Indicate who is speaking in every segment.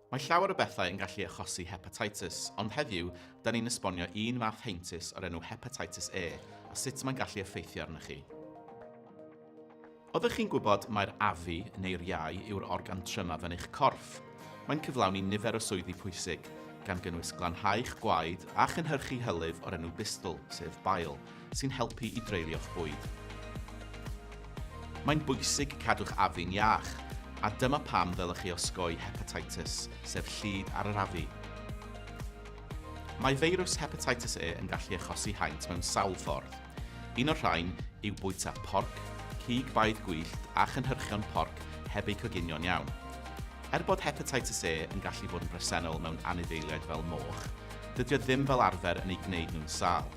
Speaker 1: Mae llawer o bethau yn gallu achosi hepatitis, ond heddiw, da ni'n esbonio un fath heintus o'r enw hepatitis E a sut mae'n gallu effeithio arnoch chi. Oeddech chi'n gwybod mai'r afu, neu'r iau, yw'r organ trymaf yn eich corff? Mae'n cyflawni nifer o swyddi pwysig, gan gynnwys glanhau'ch gwaed a chynhyrchu hylif o'r enw bistl, sef bile. sy'n helpu i dreulio'ch bwyd. Mae'n bwysig cadw'ch afi'n iach, a dyma pam ddylech chi osgoi hepatitis, sef llid ar yr afu. Mae feirws hepatitis E yn gallu achosi haint mewn sawl ffordd. Un o'r rhain yw bwyta porc, cig baedd gwyllt a chynhyrchion porc heb eu coginio'n iawn. Er bod hepatitis E yn gallu bod yn bresennol mewn anifeiliaid fel moch, dydy o ddim fel arfer yn eu gwneud nhw'n sâl.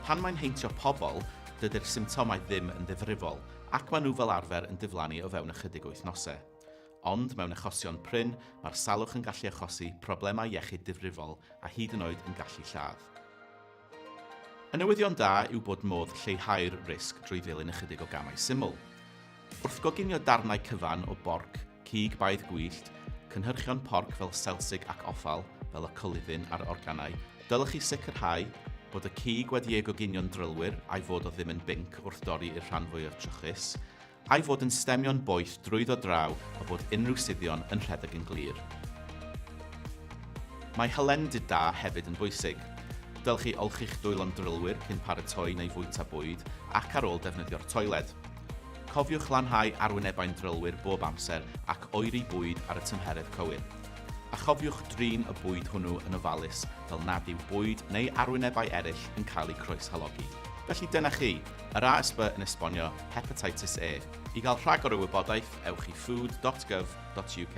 Speaker 1: Pan mae'n heintio pobl, dydy'r symptomau ddim yn ddifrifol ac maen nhw fel arfer yn diflannu o fewn ychydig wythnosau. Ond mewn achosion prin, mae'r salwch yn gallu achosi problemau iechyd difrifol a hyd yn oed yn gallu lladd. Y newyddion da yw bod modd lleihau'r risg drwy ddilyn ychydig o gamau syml. Wrth goginio darnau cyfan o borc, Cig baedd gwyllt, cynhyrchion porc fel selsig ac offal fel y coluddyn a'r organau, dylech chi sicrhau bod y cig wedi ei goginio'n drylwyr a'i fod o ddim yn binc wrth dorri i'r rhan fwyaf trwchus, a'i fod yn stemio'n boeth drwyddo draw a bod unrhyw suddion yn rhedeg yn glir. Mae hylendid da hefyd yn bwysig. Dylech chi olchi'ch dwylo'n drylwyr cyn paratoi neu fwyta bwyd ac ar ôl defnyddio'r toiled. Cofiwch lanhau arwynebau'n drylwyr bob amser ac oeri bwyd ar y tymheredd cywir. A chofiwch drin y bwyd hwnnw yn ofalus fel nad yw bwyd neu arwynebau eraill yn cael eu croeshalogi. Felly dyna chi, yr ASB yn esbonio Hepatitis E. I gael rhagor o wybodaeth, ewch i food dot gov dot uk.